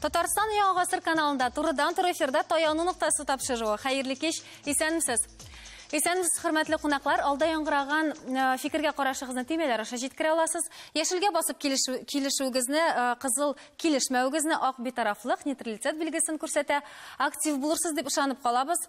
Татарстан яңа гасыр каналында турыдан туры эфирда таяну ноктасы тапшыруы. Хәерле кич, исәнмесез. Исәнмесез, хөрмәтле кунаклар. Алда яңгыраган э, фикергә карашыгызны төймәләр аша җиткерә аласыз. Яшелгә басып килешүегезне, э, кызыл килешмәвегезне, ак битарафлык, нейтралитет билгесен күрсәтә. Актив булырсыз дип ышанып калабыз.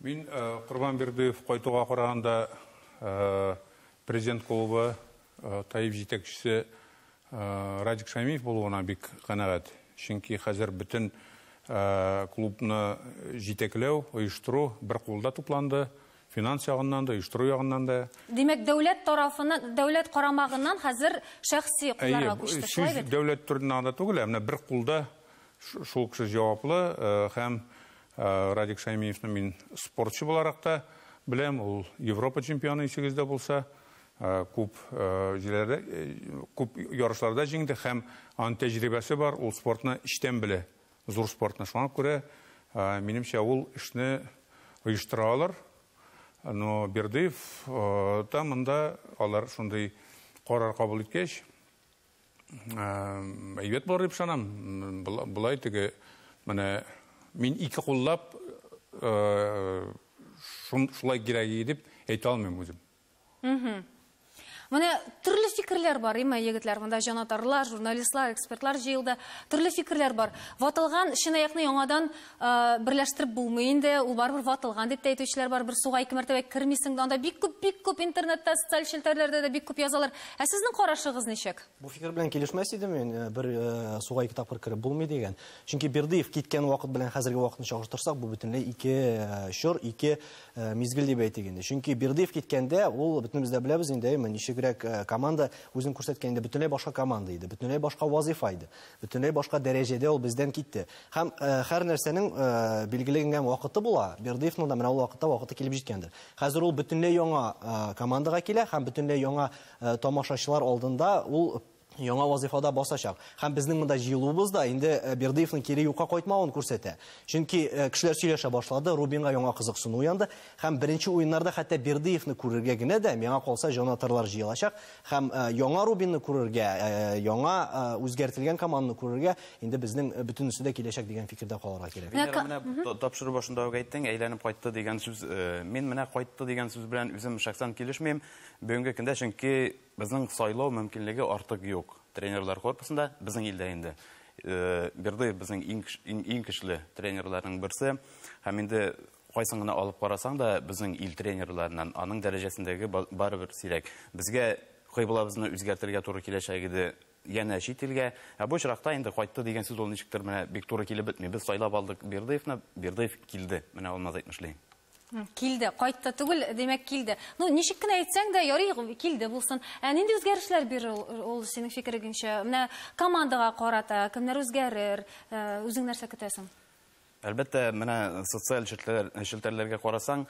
Мин Корбан Бердыев кайтуга караганда Президент клубы ТАИФ җитәкчесе Радик Шәймиев булуына бик канәгать. Чөнки хәзер бөтен клубны җитәкләү, оештыру бер кулда тупланды, финанс ягыннан да, оештыру ягыннан да. Димәк, дәүләт тарафыннан, дәүләт карамагыннан хәзер шәхси кулларга күчте, шулай бит? Әйе, сүз дәүләт турында гына түгел, ә менә бер кулда шул кеше җаваплы һәм Радик Шәймиевны мин спортчы буларак та беләм. Ул Европа чемпионы исегез дә булса, күп җирләрдә, күп ярышларда җиңде һәм ан тәҗрибәсе бар, ул спортны эчтән белә, зур спортны. Шуңа күрә, минемчә, ул эшне оештыра алыр. Но Бердыев та монда алар шундый карар кабул иткәч, Әйбәт булыр дип ышанам. Болай теге менә мин ике куллап шулай кирәк иде дип әйтә алмыйм үзем. Менә төрле фикерләр бар, имә егетләр, монда җанатарлар, журналистлар, экспертлар җыелды. Төрле фикерләр бар. Ватылган чынаякны яңадан берләштереп булмый инде, ул барыбер ватылган дип тә әйтүчеләр бар, бер суга ике мәртәбә кермисең дә, анда бик күп, бик күп интернетта, социаль челтәрләрдә дә бик күп язалар. Ә сезнең карашыгыз ничек? Бу фикер белән килешмәс идем мин, э, бер э, суга ике тапкыр кереп булмый дигән. Чөнки Бердыев киткән вакыт белән хәзерге вакытны чагыштырсак, бу бөтенләй ике э, чор, ике мизгел дип әйтик инде. Чөнки Бердыев киткәндә ул бөтенебез дә беләбез инде, әйме, ничегрәк команда үзен күрсәткән иде, бөтенләй башка команда иде, бөтенләй башка вазифа иде. Бөтенләй башка дәрәҗәдә ул бездән китте. Һәм һәр нәрсәнең билгеленгән вакыты була. Бердыевның да менә ул вакытта вакыты килеп җиткәндер. Хәзер ул бөтенләй яңа командага килә һәм бөтенләй яңа тамашачылар алдында ул яңа вазыйфада басачак. Һәм безнең монда җыелуыбыз да инде Бердыевның кире юкка кайтмавын күрсәтә. Чөнки кешеләр сөйләшә башлады, Рубинга яңа кызыксыну уянды. Һәм беренче уеннарда хәтта Бердыевны күрергә генә дә, миңа калса, җан-атарлар җыелачак. Һәм яңа Рубинны күрергә, яңа үзгәртелгән команданы күрергә инде безнең бөтенесе дә киләчәк дигән фикердә калырга кирәк. Венера, менә тапшыру башында ук әйттең, әйләнеп кайтты дигән сүз. Мин менә кайтты дигән сүз белән үзем шәхсән килешмим бүгенге көндә, чөнки безнең сайлау мөмкинлеге артык юк тренерлар корпусында, безнең илдә инде. Бердыев безнең иң көчле тренерларның берсе. Һәм инде кайсын гына алып карасаң да, безнең ил тренерларыннан аның дәрәҗәсендәге барыбер сирәк. Безгә кыйблабызны үзгәртергә туры киләчәк иде, янә чит илгә. Ә бу очракта инде кайтты дигән сүз ул ничектер менә бик туры килеп бетми. Без сайлап алдык Бердыевны, Бердыев килде. Менә Алмаз әйтмешли. Килде, кайтты түгел, димәк килде. Ну, ничек кенә әйтсәң дә, ярый, килде булсын. Ә нинди үзгәрешләр бирер ул синең фикерегеңчә? Менә командага карата кемнәр үзгәрер? Э, үзең нәрсә көтәсең? Әлбәттә, менә социаль челтәрләргә карасаң,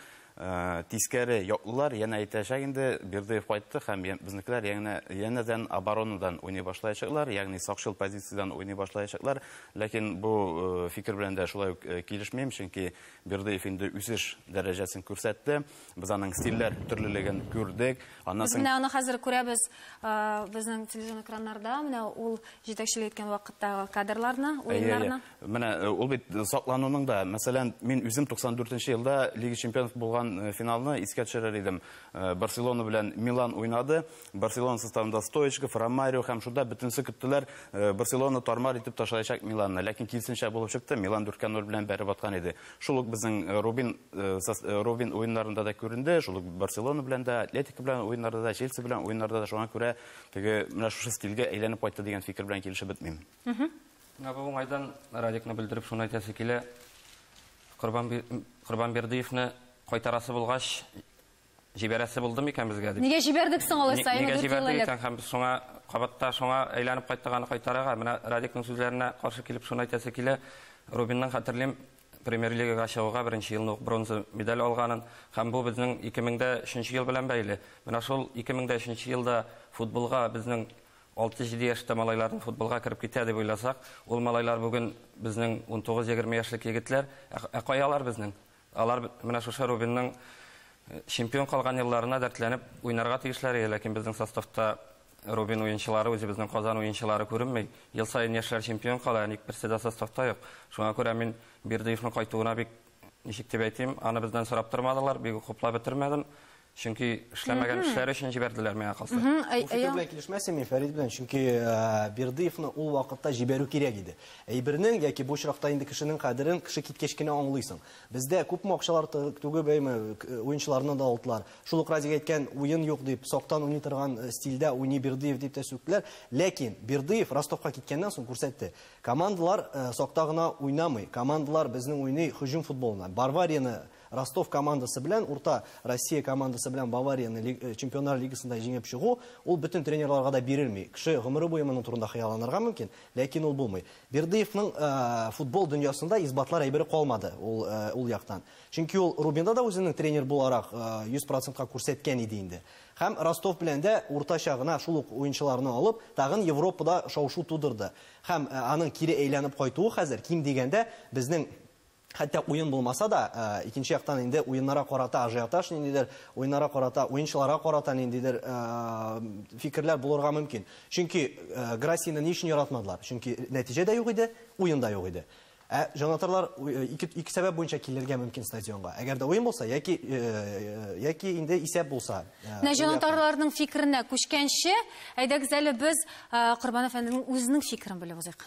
тискәре яклылар янә әйтәчәк инде, Бердыев кайтты һәм безнекеләр янә янәдән оборонадан уйный башлаячаклар, ягъни сакчыл позициядән уйный башлаячаклар. Ләкин бу фикер белән дә шулай ук килешмим, чөнки Бердыев инде үсеш дәрәҗәсен күрсәтте. Без аның стильләр төрлелеген күрдек. Аннан Без соң менә аны хәзер күрәбез э, безнең телевизион экраннарда, менә ул җитәкчелек иткән вакыттагы кадрларны, Әйе, әйе. уеннарны. Менә э, ул бит саклануның да, мәсәлән, мин үзем 94 елда Лига чемпионов булган э, финалны искә төшерер идем. Э, Барселона белән Милан уйнады. Барселона составында Стоечков, Ромарио һәм шунда бөтенесе көттеләр, э, Барселона тармар итеп ташлаячак Миланны. Ләкин килсенчә булып чыкты, Милан 4 0 белән бәреп аткан иде. Шул ук безнең э, Рубин, э, э, Рубин уеннарында да күренде, шул ук Барселона белән дә, Атлетика белән уеннарда да, Челси белән уеннарда да шуңа күрә теге менә шушы стильгә әйләнеп кайтты дигән фикер белән килешеп бетмим. Менә бу уңайдан Радикны белдереп шуны әйтәсе килә. Корбан Корбанбердиевны кайтарасы булгач, Җибәрәсе булды микән безгә дип. Нигә җибәрдек соң алайса? Нигә җибәрдек икән һәм без шуңа кабатта шуңа әйләнеп кайтырганы кайтарырга? Менә Радикның сүзләренә каршы килеп шуны әйтәсе килә. Рубинның хәтерлим премьер-лигага чыгуга беренче елны ук бронза медаль алганын һәм бу безнең 2003 ел белән бәйле. Менә шул 2003 елда футболга безнең 6-7 яшьтә малайларның футболга кереп китә дип уйласак, ул малайлар бүген безнең 19-20 яшьлек егетләр, ә кая алар безнең? Алар менә шушы Рубинның чемпион калган елларына дәртләнеп уйнарга тиешләр иде, ләкин безнең составта Рубин уенчылары, үзебезнең Казан уенчылары күренми. Ел саен яшьләр чемпион кала, ә ник берсе дә составта юк? Шуңа күрә мин Бердыевның кайтуына бик, ничек дип әйтим, аны бездән сорап тормадылар, бик үк хуплап бетермәдем. Чөнки эшләмәгән эшләре өчен җибәрделәр миңа калса. Бу фикер белән килешмәсем мин Фәрит белән, чөнки э, Бердыевны ул вакытта җибәрү кирәк иде. Әйбернең яки бу очракта инде кешенең кадерен кеше киткәч кенә аңлыйсың. Бездә күпме акчалар тө- түгеп әйме, к- уенчыларны да алдылар. Шул ук Разик әйткән уен юк дип, сактан уйный торган э, стильдә уйный Бердыев дип тә сүктеләр. Ләкин Бердыев Ростовка киткәннән соң күрсәтте. Командалар э, сакта гына уйнамый. Командалар безнең уйный һөҗүм футболына. Барварияны Ростов командасы белән Урта Россия командасы белән Баварияне Чемпионнар лигасында җиңеп чыгу, ул бөтен тренерларга да бирелми. Кеше гомере буе моның турында хыялланырга мөмкин, ләкин ул булмый. Бердыевның футбол дөньясында исбатлар әйбере калмады ул ул яктан. Чөнки ул Рубинда да үзенең тренер буларак 100 процентка күрсәткән иде инде. Һәм Ростов белән дә уртача гына шул ук уенчыларны алып, тагын Европада шау-шу тудырды. Һәм аның кире әйләнеп кайтуы хәзер, ким дигәндә, безнең Хәтта уен булмаса да, икенче яктан инде уеннарга карата ажиотаж ниндидер, уеннарга карата, уенчыларга карата ниндидер фикерләр булырга мөмкин. Чөнки Грассины ни өчен яратмадылар? Чөнки нәтиҗә дә юк иде, уен да юк иде. Ә җанатарлар ике, ике сәбәп буенча килергә мөмкин стадионга. Әгәр дә уен булса, яки, яки инде исәп булса. Менә җанатарларның фикеренә күчкәнче, әйдәгез әле без Корбан әфәнденең үзенең фикерен белеп узыйк.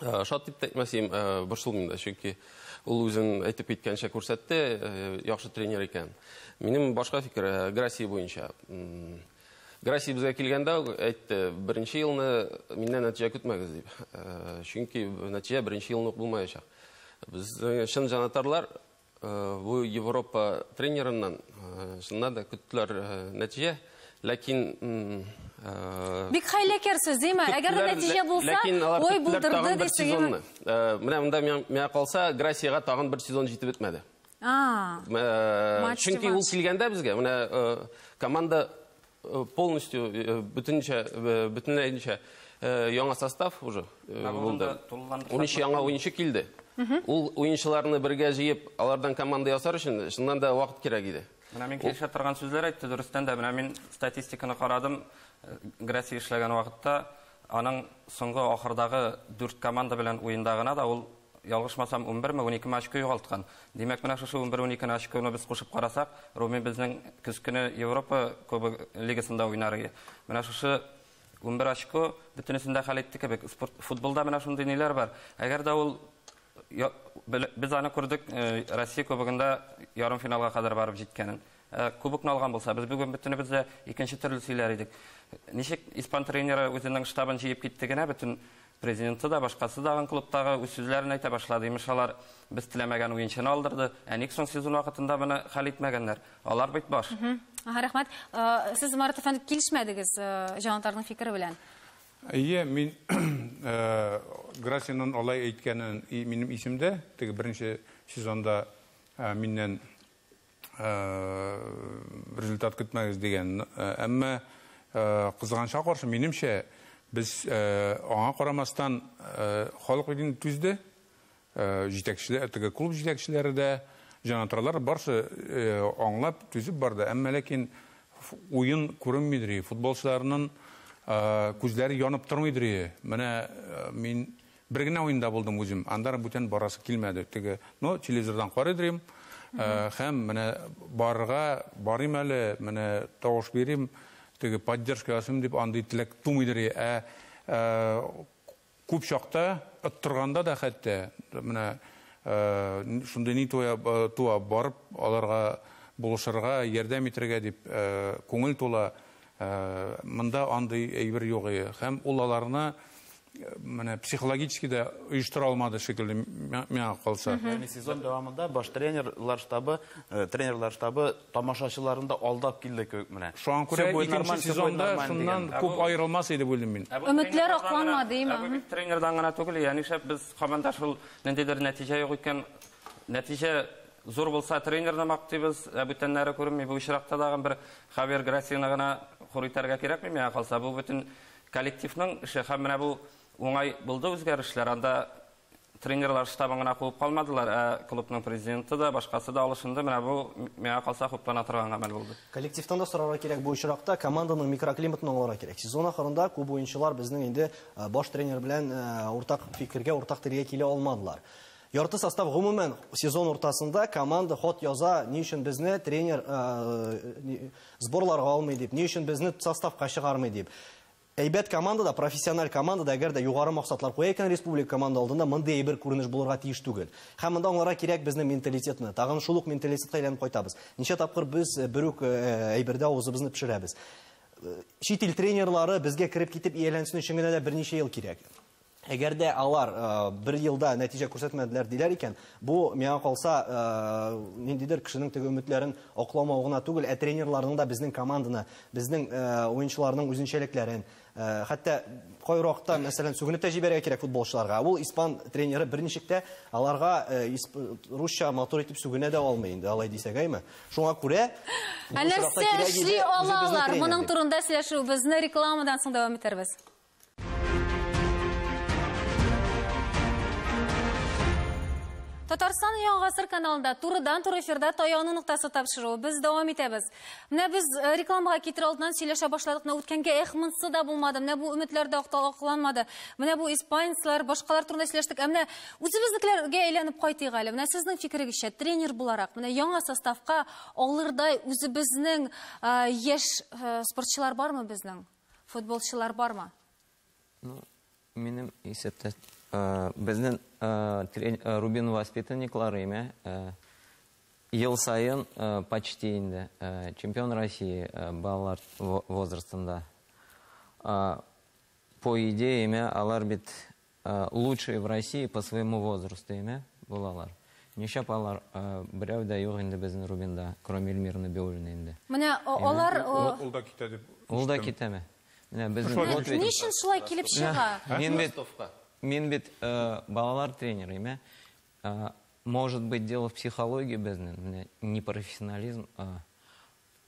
Э, шат дип әйтмәсем э, борчылмыйм да чөнки ул үзен әйтеп киткәнчә күрсәтте э, яхшы тренер икән минем башка фикер грасси буенча грасси безгә килгәндә әйтте беренче елны миннән нәтиҗә көтмәгез дип чөнки нәтиҗә беренче елны ук булмаячак без чын җанатарлар Э, бу Европа тренерыннан э, шуннан да көттеләр э, нәтиҗә, ләкин бик хәйләкәрсез, димә. Әгәр нәтиҗә булса, ой булдырды дисегезме? Менә монда миңа калса, Грасиягә тагын бер сезон җитеп бетмәде. А. Чөнки ул килгәндә безгә, менә команда Э, полностью э, э, бөтенчә бөтенләенчә яңа состав уже булды уенчы яңа уенчы килде ул уенчыларны бергә җыеп алардан команда ясар өчен чыннан да вакыт кирәк иде менә мин килешә торган сүзләр әйтте дөрестән дә менә мин статистиканы карадым грәси эшләгән вакытта аның соңгы ахырдагы дүрт команда белән уенда гына да ул Ялгышмасам, унберме, уникеме очко югалткан. Димәк, менә шушы унбер-уникене очконы без кушып карасак, Руми безнең көз көне Европа Кубогы лигасында уйнар иде. Менә шушы унбер очко бөтенесен дә хәл итте кебек. Спорт, футболда менә шундый ниләр бар. Әгәр дә ул без аны күрдек Россия Кубогында ярымфиналга кадәр барып җиткәнен. Ә кубокны алган булса, без бүген бөтенебез дә икенче төрле сөйләр идек. Ничек испан тренеры үзенең штабын җыеп китте генә, бөтен президенты да, башкасы да аның клубтагы үз сүзләрен әйтә башлады. Имеш, алар без теләмәгән уенчыны алдырды. Ә ник соң сезон вакытында моны хәл итмәгәннәр? Алар бит баш. Ага, рәхмәт. Э, Сез, Марат әфәнде, килешмәдегез э, җанатарның фикере белән. Әйе, мин э, Грасинның алай әйткәнен и- минем исемдә, теге беренче сезонда э, миннән Результат көтмәгез дигән. Әмма кызганычка каршы, минемчә, без аңа карамастан, халык бит инде түзде. Җитәкчеләр, теге клуб җитәкчеләре дә, җанатарлар да барысы аңлап, түзеп барды. Әмма ләкин уен күренмидер, футболчыларның күзләре янып тормыйдыр. Менә мин Бер генә уенда булдым үзем, андара бүтән барасы килмәде, теге, ну, телевизордан карыйдырим, һәм менә барырга, барыйм әле, менә тавыш бирим, теге поддержка ясыйм дип андый теләк тумыйдыр, ә күп чакта, оттырганда да хәтта, менә шундый ни туа, барып аларга, булышырга, ярдәм итәргә дип күңел тула, Монда андый әйбер юк и һәм ул аларны менә психологически дә оештыра алмады шикелле миңа калса. Яни сезон дәвамында баш тренерлар штабы, э, тренерлар штабы тамашачыларын да алдап килде кебек менә. Шуңа күрә икенче сезонда шуннан күп аерылмас иде бу илем мин. Өметләр акланма дим. Ә бу тренердан гына түгел, яни шәп без команда шул ниндидер нәтиҗә юк икән, нәтиҗә Зур булса тренерны мактыйбыз, ә бүтәннәре күренми. Бу очракта тагын бер Хавьер Грасияны гына хур итәргә кирәкми миңа калса. Бу бөтен коллективның эше һәм менә бу уңай булды үзгәрешләр. Анда тренерлар штабын гына куып калмадылар, ә клубның президенты да, башкасы да алышынды. Менә бу миңа калса хуплана торган гамәл булды. Коллективтан да сорарга кирәк бу очракта, команданың микроклиматын аңларга кирәк. Сезон ахырында күп уенчылар безнең инде баш тренер белән уртак фикергә, уртак телгә килә алмадылар. Ярты состав гомумән сезон уртасында команда хат яза, ни өчен безне тренер сборларга алмый дип, ни өчен безне составка чыгармый дип. Әйбәт командада, профессиональ командада, әгәр дә югары максатлар куя икән республика команда алдында, мондый әйбер күренеш булырга тиеш түгел. Һәм монда аңларга кирәк безнең менталитетны. Тагын шул ук менталитетка әйләнеп кайтабыз. Ничә тапкыр без бер үк әйбердә авызыбызны пешерәбез. Чит ил тренерлары безгә кереп китеп ияләнсен өчен генә дә берничә ел кирәк. Әгәр дә алар бер елда нәтиҗә күрсәтмәделәр диләр икән, бу миңа калса ниндидер кешенең теге өметләрен акламау гына түгел, ә тренерларның да безнең команданы, безнең уенчыларның үзенчәлекләрен, хәтта кай вакытта, мәсәлән, сүгенеп тә җибәрергә кирәк футболчыларга. Ул испан тренеры берничек тә аларга русча матур итеп сүгенә дә алмый инде, алай дисәгәйме. Шуңа күрә Нәрсә эшли алалар? Моның турында сөйләшүебезне рекламадан соң дәвам итәрбез. Татарстан яңа гасыр каналында турыдан туры эфирда таяну ноктасы тапшыру. Без дәвам итәбез. Менә без э, рекламага китер алдыннан сөйләшә башладык. Менә үткәнгә эх монсы да булмады. Менә бу өметләр дә акланмады. Менә бу испанецлар, башкалар турында сөйләштек. Ә менә үзебезнекеләргә әйләнеп кайтыйк әле. Менә сезнең фикерегезчә тренер буларак, менә яңа составка алырдай үзебезнең э, яшь э, спортчылар бармы безнең? Футболчылар бармы? Ну, минем исәптә безнең Рубин воспитанниклары име ел саен почти инде чемпион России балалар возрастында. По идее, име алар бит Лучшие в России по своему возрасту име булалар? Нишләп алар берәү дә юк инде безнең Рубинда, кроме Эльмиры Набиуллиной инде? Менә алар. Ул да китә дип ишеттем. Ул да китәме? Менә без. Ни өчен шулай килеп чыга? Мин бит, мин бит балалар тренеры име? Может быть дело в психологии безнең, менә непрофессионализм.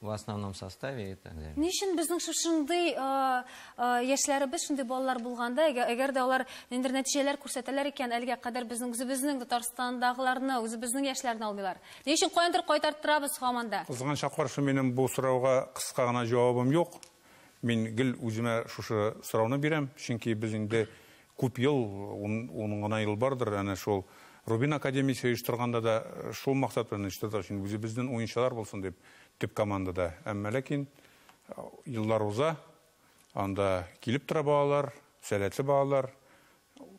В основном составе и так далее. Ни өчен безнең шушындый яшьләребез, шундый балалар булганда, әгәр дә алар ниндидер нәтиҗәләр күрсәтәләр икән, әлегә кадәр безнең үзебезнең Татарстандагыларны, үзебезнең яшьләрне алмыйлар. Ни өчен каяндыр кайтарттырабыз һаман да? Кызганычка каршы, минем бу сорауга кыска гына җавабым юк. Мин гел үземә шушы сорауны бирәм, чөнки без инде Күп ел, ун гына ел бардыр, әнә шул Рубин академиясе оештырганда да шул максат белән оештырдык, чөнки үзебезнен уенчылар булсын дип, төп командада. Әмма ләкин еллар уза, анда килеп тора балалар, сәләтле балалар,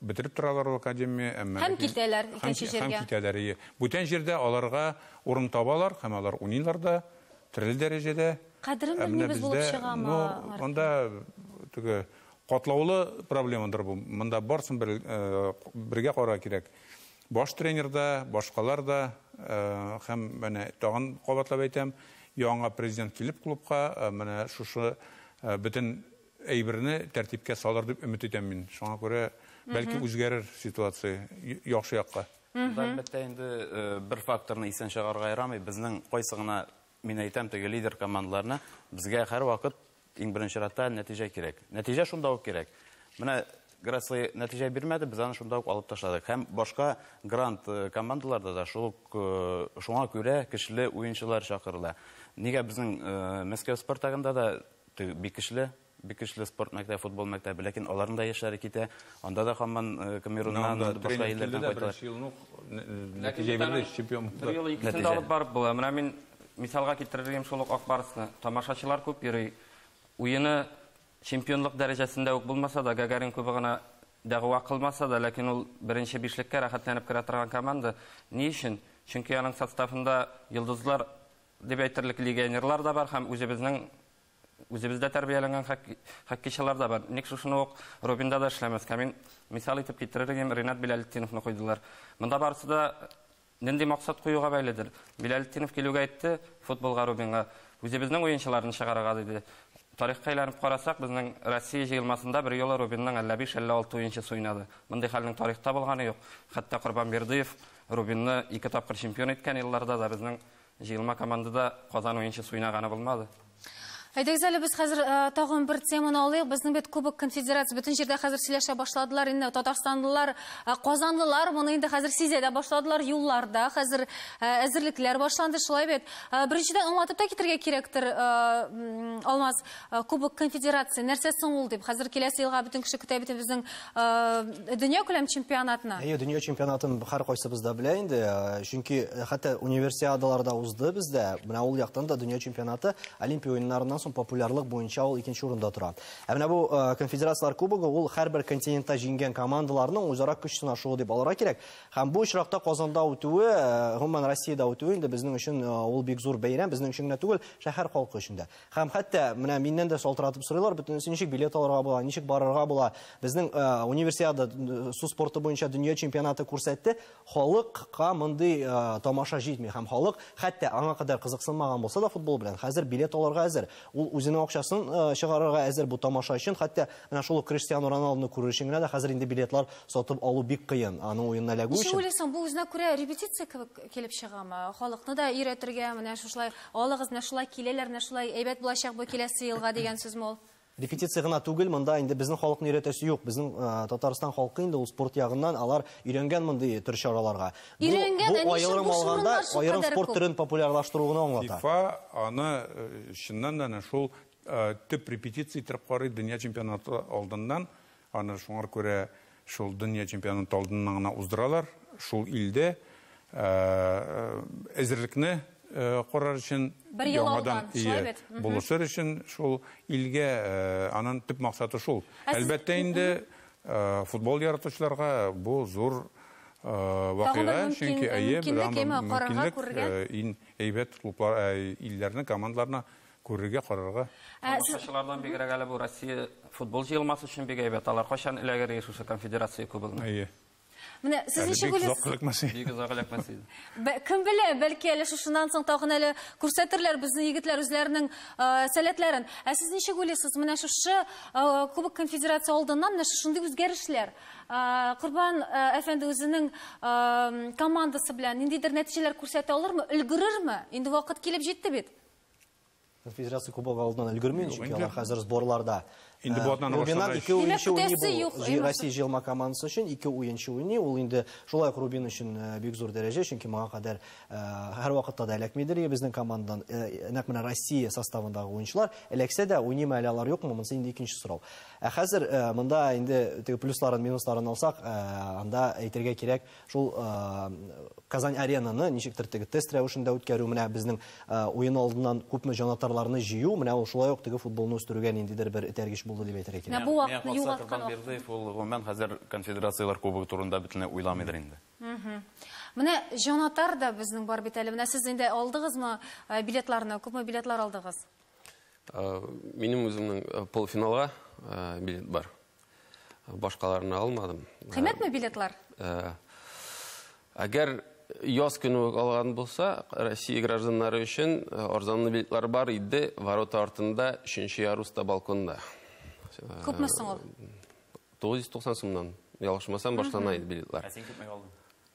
бетереп торалар ул академия, әмма ләкин. Һәм китәләр икенче җиргә. Һәм китәләр, ие. Бүтән җирдә аларга урын табалар һәм алар уйныйлар да, төрле дәрәҗәдә. Кадерен белмибез булып чыгамы, Артур? Ну, анда теге Катлаулы проблемадыр бу. Монда барсын бер бергә карарга кирәк. Баш тренер да, башкалар да һәм менә тагын кабатлап әйтәм, яңа президент килеп клубка менә шушы бөтен әйберне тәртипкә салыр дип өмет итәм мин. Шуңа күрә бәлки үзгәрер ситуация яхшы якка. Әлбәттә инде бер факторны исән чыгарырга ярамый. Безнең кайсы гына Мин әйтәм теге лидер командаларына, безгә һәрвакыт иң беренче чиратта нәтиҗә кирәк. Нәтиҗә шунда ук кирәк. Менә Грацлый нәтиҗә бирмәде, без аны шунда ук алып ташладык. Һәм башка грант э, командаларда да шул ук э, шуңа күрә көчле уенчылар чакырыла. Нигә безнең э, Мәскәү Спартагында да бик көчле Бик көчле спорт мәктәбе, футбол мәктәбе, ләкин аларның да яшьләре китә. Анда да хаман э, Камеруннан, башка илләрдән кайталар. чемпион Бер юлы икесен дә алып барып була. Менә мин мисалга китерергә шул ук Ак Барсны. Тамашачылар күп йөри. Уены чемпионлык дәрәҗәсендә үк булмаса да, Гагарин кубы гына дәгъва кылмаса да, ләкин ул беренче бишлеккә рәхәтләнеп керә торган команда. Ни өчен? Чөнки аның составында йолдызлар дип әйтерлек легионерлар да бар һәм үзебезнең Үзебездә тәрбияләнгән хоккейчылар да бар. Ник шушыны ук Рубинда да эшләмәскә? Мин мисал итеп китерер идем, Ринат Биләлетдиновны куйдылар. Монда барысы да нинди максат куюга бәйледер. Биләлетдинов килүгә әйтте, футболга Рубинга үзебезнең уенчыларны чыгарырга диде. Тарихка әйләнеп карасак, безнең Россия җыелмасында бер юлы Рубинның әллә биш, әллә алты уенчысы уйнады. Мондый хәлнең тарихта булганы юк. Хәтта Корбан Бердыев Рубинны ике тапкыр чемпион иткән елларда да безнең Җыелма командада Казан уенчы суйнаганы булмады. Әйдәгез әле без хәзер э, тагын бер теманы алыйк. Безнең бит Кубок конфедерация бөтен җирдә хәзер сөйләшә башладылар. Инде татарстанлылар, э, казанлылар моны инде хәзер сизә дә башладылар. Юлларда хәзер э, әзерлекләр башланды, шулай бит. Беренчедән аңлатып та китергә кирәктер, Алмаз. Э, кубок конфедерации нәрсә соң ул дип хәзер киләсе елга бөтен кеше көтә бит безнең э, дөнья күләм чемпионатына әйе дөнья чемпионатын һәркайсыбыз да белә инде э, чөнки хәтта универсиадаларда узды бездә менә ул яктан да дөнья чемпионаты олимпия уеннарыннан соң популярлык буенча ул икенче урында тора ә менә бу конфедерацияләр кубогы ул һәрбер континентта җиңгән командаларның үзара көч сынашуы дип алырга кирәк һәм бу очракта казанда үтүе гомумән россиядә үтүе инде безнең өчен ул бик зур бәйрәм безнең өчен генә түгел шәһәр халкы өчен дә Һәм хәтта менә миннән дә шалтыратып сорыйлар, бөтенесе ничек билет алырга була, ничек барырга була. Безнең э, универсиада су спорты буенча дөнья чемпионаты күрсәтте, халыкка мондый э, тамаша җитми һәм халык хәтта аңа кадәр кызыксынмаган булса да футбол белән, хәзер билет алырга әзер. Ул үзенең акчасын э, чыгарырга әзер бу тамаша өчен, хәтта менә шул Криштиану Роналдуны күрер өчен генә дә хәзер инде билетлар сатып алу бик кыен, аның уенына эләгү өчен. Ничек уйлыйсың, бу үзенә күрә репетиция кебек килеп чыгамы? Халыкны да өйрәтергә, менә шушылай Алыгыз, менә шулай киләләр, менә шулай әйбәт булачак бу киләсе елга дигән сүзме ул? Репетиция гына түгел, монда инде безнең халыкны өйрәтәсе юк. Безнең Татарстан халкы инде ул спорт ягыннан алар өйрәнгән мондый төр чараларга. Өйрәнгән, ә ни өчен бу шурлар шул кадәр күп? Аерым спорт төрен популярлаштыру гына аңлата. ФИФА аны чыннан да әнә шул төп репетиция иттереп карый, дөнья чемпионаты алдыннан Аны шуңар күрә шул дөнья чемпионаты алдыннан гына уздыралар. Шул илдә әзерлекне карар өчен, яңадан булышыр өчен шул илгә, анын төп максаты шул. Әлбәттә инде, футбол яратучыларга бу зур вакыйга, чөнки, әйе, мөмкинлек, иң әйбәт клублар, илләрне, командаларны Күрергә, карарга. Ә, Тамашачылардан бигрәк әле бу Россия футбол җыелмасы өчен бик әйбәт. Алар кайчан эләгер иде шушы конфедерация кубогына? Әйе. Менә сез Әле ничек бик уйлыйсыз? озак эләкмәс иде. Бик озак эләкмәс иде. Бә- Кем белә, бәлки әле шушыннан соң тагын әле күрсәтерләр безнең егетләр үзләренең э, сәләтләрен. Ә сез ничек уйлыйсыз, менә шушы э, Кубок конфедерация алдыннан менә шушындый үзгәрешләр э, Корбан э, әфәнде үзенең э, командасы белән ниндидер нәтиҗәләр күрсәтә алырмы, өлгерерме? Инде вакыт килеп җитте бит. Федерация кубогы алдынан өлгермәй, чөнки алар хәзер сборларда. Инде бу атнаны Рубиннан башланган. ике уенчы Димәк, уйный көтәсе бу юк, җи- Эйнур. Россия җыелма командасы өчен ике уенчы уйный. Ул инде шулай ук Рубин өчен э, бик зур дәрәҗә, чөнки моңа кадәр э, һәрвакытта да эләкмидер иде безнең командадан. Э, Нәкъ менә Россия составындагы уенчылар эләксә дә, уйныймы әле алар юкмы, монысы инде икенче сорау. Ә хәзер э, монда инде теге плюсларын, минусларын алсак, э, анда әйтергә кирәк, Шул Казань Аренаны ничектер теге тест рәвешендә үткәрү, менә безнең уен алдыннан күпме җанатарларны җыю, менә ул шулай ук теге футболны үстерүгә ниндидер бер этәргеч булды дип әйтергә кирәк. Менә бу вакытны югалткан вакыт. Ният Максатовтан Бердыев ул гомумән хәзер Конфедерацияләр кубогы турында бөтенләй уйламыйдыр инде. Менә җанатар да безнең бар бит әле. Менә сез инде алдыгызмы билетларны, күпме билетлар алдыгыз? Минем үземнең полуфиналга билет бар. Башкаларны алмадым. Кыйммәтме билетлар? Әгәр яз көне үк алган булса, Россия гражданнары өчен э, арзанлы билетлар бар иде, ворота артында, өченче яруста балконда. Күпме соң ул? 990 сумнан. Ялгышмасам, баштан айт билетлар. Ә син күпме алдың?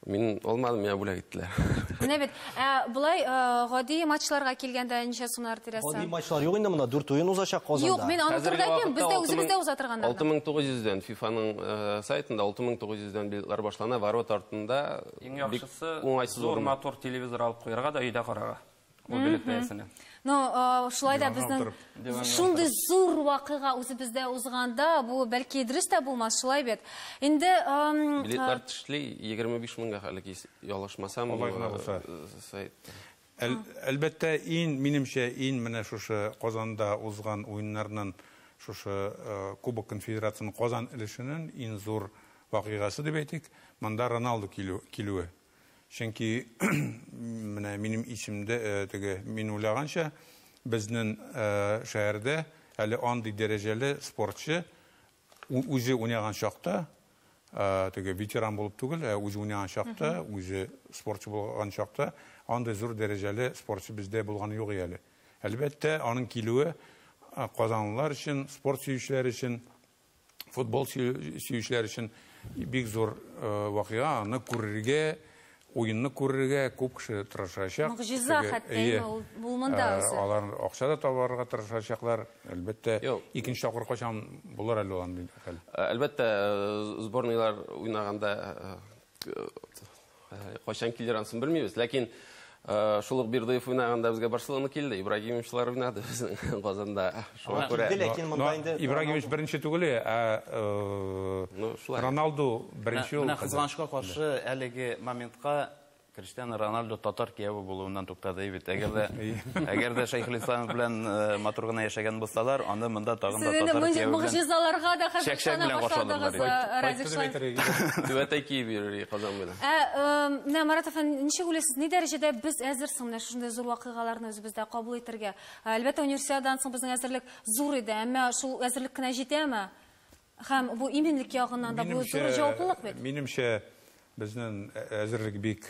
Мин алмадым, миңа бүләк иттеләр. Менә бит. Ә болай э, гади матчларга килгәндә ничә сумнар тирәсе? Гади матчлар юк инде монда, дүрт уен узачак Казанда. Юк, мин аны турыда әйтмим, бездә үзебездә уза торганнарда. 6900-дән FIFA-ның э, сайтында 6900-дән билетлар башлана, ворот артында. Иң яхшысы, зур матур телевизор алып куярга да өйдә карарга. Ул белеп бәясенә. Ну, э, шулай да безнең Диванга шундый зур вакыйга үзебездә узганда, бу бәлки дөрес тә булмас, шулай бит. Инде эм, э, Билетлар тешли 25 меңгә хәле кис- ялгышмасам. Алай гына булса. э, Сайтта. Әл- Әлбәттә, ин, минемчә, ин менә шушы Казанда узган уеннарның шушы э, Кубок конфедерацияның Казан өлешенең ин зур вакыйгасы дип әйтик, монда Роналду килү- килүе. Чөнки менә минем исемдә теге мин уйлаганча безнең шәһәрдә әле андый дәрәҗәле спортчы үзе уйнаган чакта теге ветеран булып түгел, ә үзе уйнаган чакта, үзе спортчы булган чакта андый зур дәрәҗәле спортчы бездә булган юк әле. Әлбәттә, аның килүе казанлылар өчен, спорт сөючеләр өчен футбол сөючеләр өчен бик зур э, вакыйга, аны күрергә, уенны күрергә күп кеше тырышачак. Могҗиза хәтта инде ул булмында э, үзе. Алар акча да табарга тырышачаклар. Әлбәттә, икенче тапкыр качан булыр әле ул андый хәл. Э, әлбәттә, сборныйлар уйнаганда Кайчан килер ансын белмибез, ләкин Э, шул ук Бирдыев уйнаганда безгә Барселона килде, Ибрагимовчлар уйнады безнең Казанда. Шуңа күрә ләкин монда инде Ибрагимович беренче түгел, ә э, Роналду беренче ул. Менә кызганычка каршы әлеге моментка Криштиану Роналду татар кияве булуыннан туктады бит. Әгәр дә әгәр дә Шәйхелислам белән э, матур гына яшәгән булсалар, аны монда тагын да татар кияве белән могҗизаларга да хәзерләнә башладыгыз, э, Радик Шаһ. Түбәтәй киеп йөри Казан белән. Ә, э, менә Марат әфәнде, ничек уйлыйсыз, ни дәрәҗәдә без әзер соң менә шундый зур вакыйгаларны үзебездә кабул итәргә? Әлбәттә, универсиададан соң безнең әзерлек зур иде, әмма шул әзерлек кенә җитәме? Һәм бу иминлек ягыннан да бу зур җаваплылык бит. Минемчә, безнең әзерлек бик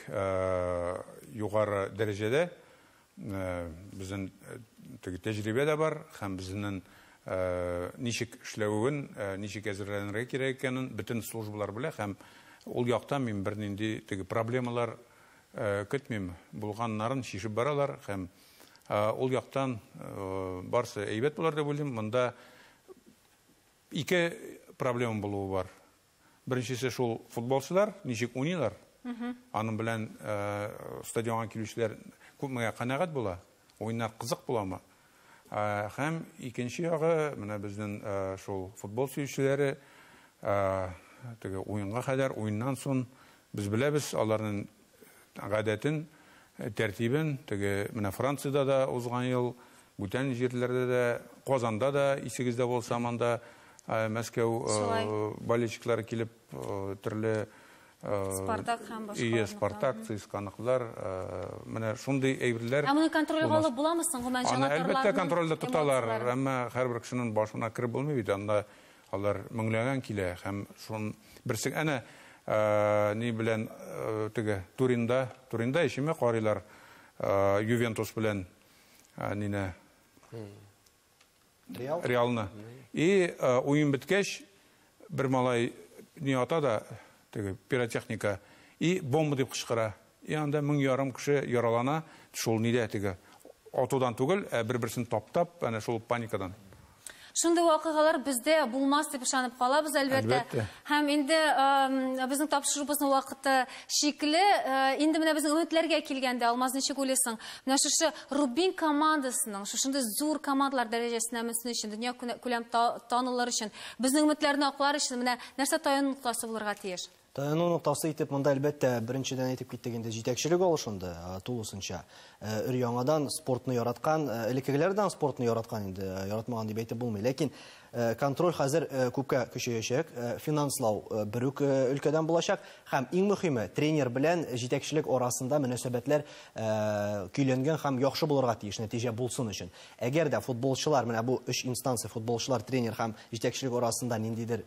югары дәрәҗәдә. Безнең теге тәҗрибә дә бар һәм безнең ничек эшләвен, ничек әзерләнергә кирәк икәнен бөтен службалар белә һәм ул яктан мин бернинди теге проблемалар көтмим. Булганнарын чишеп баралар һәм ул яктан барысы әйбәт булыр дип уйлыйм. Монда Ике проблема булуы бар. Беренчесе шул футболчылар ничек уйныйлар? Аның белән э, стадионга килүчеләр күпмегә канәгать була? Уеннар кызык буламы? Э, һәм икенче ягы, менә безнең э, шул футбол сөючеләре теге уенга кадәр, уеннан соң без беләбез, аларның гадәтен, тәртибен, теге менә Франциядә дә узган ел, бүтән җирләрдә дә, Казанда да, исегездә булса, монда Мәскәү болельщиклары килеп, төрле Спартак һәм башка. Ие, Спартак, Цисканыклар. Менә шундый әйберләр. Ә моны контрольга алып буламы соң? Гомән җанатарларының. Әлбәттә, контрольдә тоталар, әмма һәрбер кешенең башына кереп булмый бит, анда Алар меңләгән килә һәм шун берсең әнә ни белән теге Туринда, Туринда ишеме карыйлар Ювентус белән нине Реал? Реалны. И уен беткәч бер малай не ата да теге пиротехника и бомба дип кычкыра. И анда мең ярым кеше яралана, шул нидә теге атудан түгел, ә бер-берсен таптап, әнә шул паникадан. Шундый вакыйгалар бездә булмас дип ышанып калабыз, әлбәттә. Әлбәттә. Һәм инде безнең тапшырубызның вакыты чикле. Инде менә безнең өметләргә килгәндә, Алмаз, ничек уйлыйсың, менә шушы Рубин командасының шушындый зур командалар дәрәҗәсенә менсен өчен, дөнья күләм танылыр өчен, безнең өметләрне аклар өчен менә нәрсә таянып торасы булырга тиеш? Тыну ноктасы итеп монда, әлбәттә, беренчедән әйтеп киттек инде, җитәкчелек алышынды тулысынча. Өр-яңадан спортны яраткан, элеккегеләрдән спортны яраткан инде, яратмаган дип әйтеп булмый. Ләкин контроль хәзер күпкә көчәячәк, финанслау бер үк өлкәдән булачак. Һәм иң мөхиме, тренер белән җитәкчелек арасында мөнәсәбәтләр көйләнгән һәм яхшы булырга тиеш, нәтиҗә булсын өчен. Әгәр дә футболчылар, менә бу өч инстанция, футболчылар, тренер һәм җитәкчелек арасында ниндидер